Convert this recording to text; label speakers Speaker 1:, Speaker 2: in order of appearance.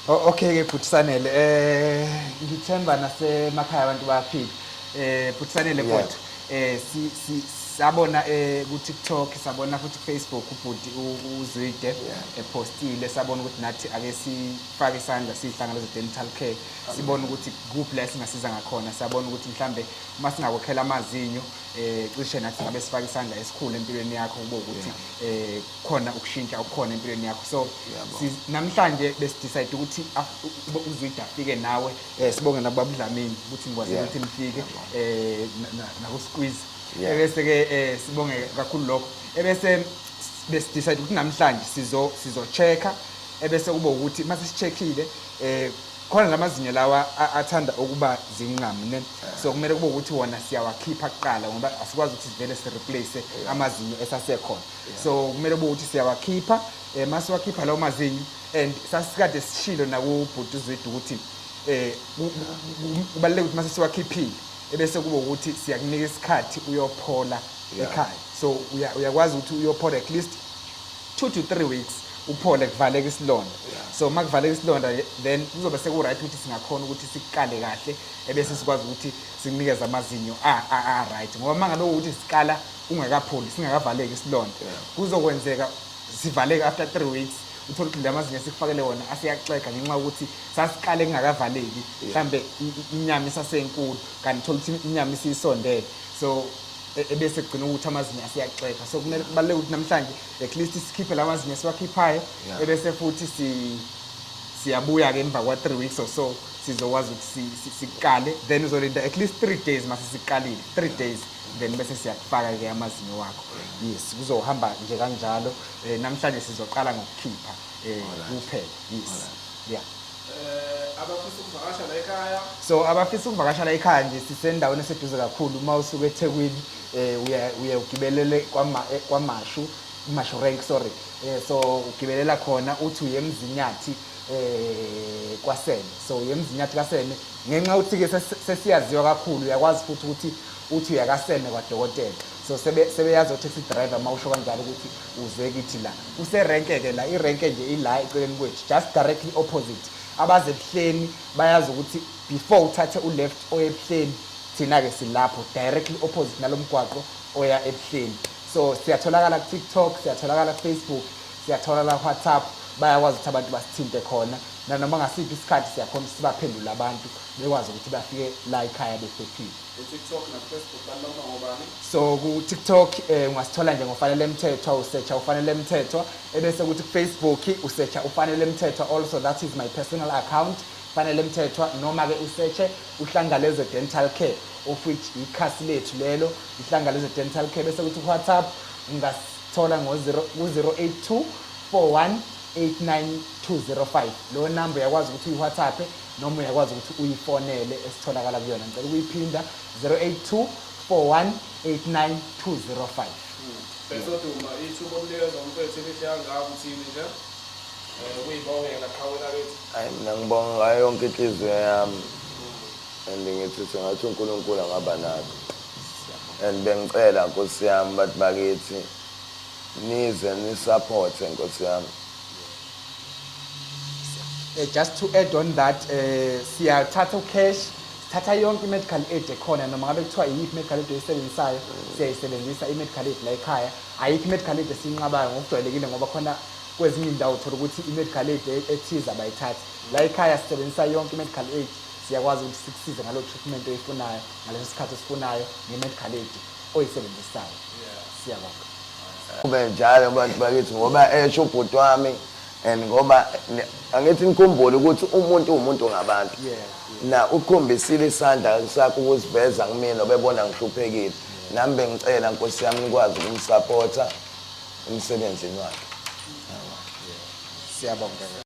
Speaker 1: Oh, okay ke bhuti Sanele eh ngithemba nasemakhaya abantu bayaphila eh bhuti Sanele Yeah. kodwa eh si si sabona eh ku TikTok sabona futhi ku Facebook ubhuti u- uZwide epostile sabona ukuthi nathi ake sifake isandla sihlangana dental care sibona ukuthi kuphi la singasiza ngakhona sabona ukuthi mhlambe uma singakokhela amazinyo eh cishe nathi ngabe sifake isandla esikhulu empilweni yakho kube ukuthi eh khona ukushintsha okukhona empilweni yakho so namhlanje besidecide ukuthi uzwide afike nawe um sibonge nakubabudlamini ukuthi ngikwazile ukuthi nifike um nakusqueeze ebese-ke um sibonge kakhulu lokho ebese besidecide ukuthi namhlanje sizo-check-a ebese kube ukuthi uma sisi-check-ile um khona la mazinyo lawa athanda ukuba zinqamune so kumele kube ukuthi wona siyawakhipha kuqala ngoba asikwazi ukuthi sivele si-replace amazinyo esasekhona so kumele kube ukuthi siyawakhipha um masiwakhipha lawo mazinyo and sasikade sishilo nakubhuti uzwide ukuthi um kubaluleke ukuthi mase siwakhiphile ebese kube ukuthi siyakunika isikhathi uyophola ekhaya so uyakwazi ukuthi uyophola at least two to three weeks uphole kuvaleka isilonda so uma kuvaleka isilonda then kuzobe seku-right ukuthi singakhona ukuthi sikukale kahle ebese sikwazi ukuthi sikunikeze amazinyo a-right ngoba uma ngabe ukuthi sikala ungakapholi singakavaleki isilonda kuzokwenzeka sivaleke after three weeks uthole ukuthi la mazinyo esikufakele wona aseyaxega ngenxa yokuthi sasiqale kungakavaleki mhlambe i- i- inyama isasenkulu kanti uthole ukuthi inyama isiyisondele so e- ebese kugcina ukuthi amazinyo aseyaxega so kumele kubaluleke ukuthi namhlanje at least sikhiphe la mazinyo esiwakhiphayo Yeah. ebese futhi si siyabuya-ke emva kwa-three weeks or so sizokwazi ukuthi si- si- siqale then uzolinda at least three days mase siqalile three days then bese siyakufaka ke amazinyo wakho yes kuzohamba nje kanjalo eh, namhlanje sizoqala ngokukhipha eh, kuphela yes yeah eh, abafisa ukuvakasha la
Speaker 2: ekhaya so abafisa ukuvakasha
Speaker 1: la ekhaya nje sisendaweni eseduze kakhulu uma usuke eThekwini eh uya uya ugibelele kwama eh, kwamashu imashu rank sorry eh so ugibelela khona uthi uyemzinyathi eh kwasene so yemzinyathi kasene ngenxa ukuthi ke sesiyaziwa kakhulu uyakwazi futhi ukuthi uthi uyakaseme kwadokotela so sebe sebeyazi otaxi driver uma usho kanjalo ukuthi uze kithi la kuserenke ke la irenke nje ila eceleni kwethu just directly opposite abaze ebuhleni bayazi ukuthi before uthathe uleft oye ebuhleni thina ke silapho directly opposite nalomgwaqo oya ebuhleni so siyatholakala ku TikTok siyatholakala ku Facebook siyatholakala ku WhatsApp bayakwazi ukuthi abantu basithinte khona nanoma ngasiphi isikhathi siyakhona ukuthi sibaphendule abantu bekwazi ukuthi bafike la ekhaya bephephile eTikTok
Speaker 2: nakuFacebook balomba ngobani so ku-tiktok
Speaker 1: um ungasithola nje ngofanele mthethwa usearcha ufanele mthethwa ebese kuthi kufacebook usearcha ufanele mthethwa also that is my personal account fanele mthethwa noma-ke usearche uhlangalezwe dental care of which ikhasi lethu lelo ihlangalezwe dental care bese kuthi kuwhatsapp ungasithola ku-082 41 89205 lo number uyakwazi ukuthi uyiwhatsappe noma uyakwazi ukuthi uyifonele esitholakala kuyona ngicela ukuyiphinda 082 4189205 Besoduma
Speaker 2: ithuba omnikeza umfethu elihle kangaka uthini nje Eh, ukuyibongela qhawe lakithi hayi mina ngibonga
Speaker 3: ngayo yonke inhliziyo yami and ngithi sengathi unkulunkulu angaba nakho and bengicela nkosi yami bathi bakithi nize nisaphothe nkosi yami
Speaker 1: Uh, just to add on that uh, siyathatha ucash thatha yonke i-medical aid ekhona noma ngabe kuthiwa iyiphi i-medical aid oyisebenzisayo siyayisebenzisa i-medical aid la ekhaya ayikho i-medical aid esiyinqabayo ngokujwayelekile ngoba khona kwezinye indawo uthola ukuthi i-medical aid e-, ethize abayithathi la ekhaya sisebenzisa yonke i-medical aid siyakwazi ukuthi sikusize ngalo treatment oyifunayo ngaleso sikhathi osifunayo nge-medical aid oyisebenzisayo siyabonga Kube
Speaker 3: njalo bantu bakithi ngoba esho ubhuti wami and ngoba ne- angithi nikhumbule ukuthi umuntu uwumuntu ngabantu. Na ukhombisile isandla sakho ukusiveza kumina obebona ngihluphekile. Nami bengicela Nkosi yami nikwazi ukumsapotha emsebenzini
Speaker 1: wakhe.
Speaker 3: Siyabonga.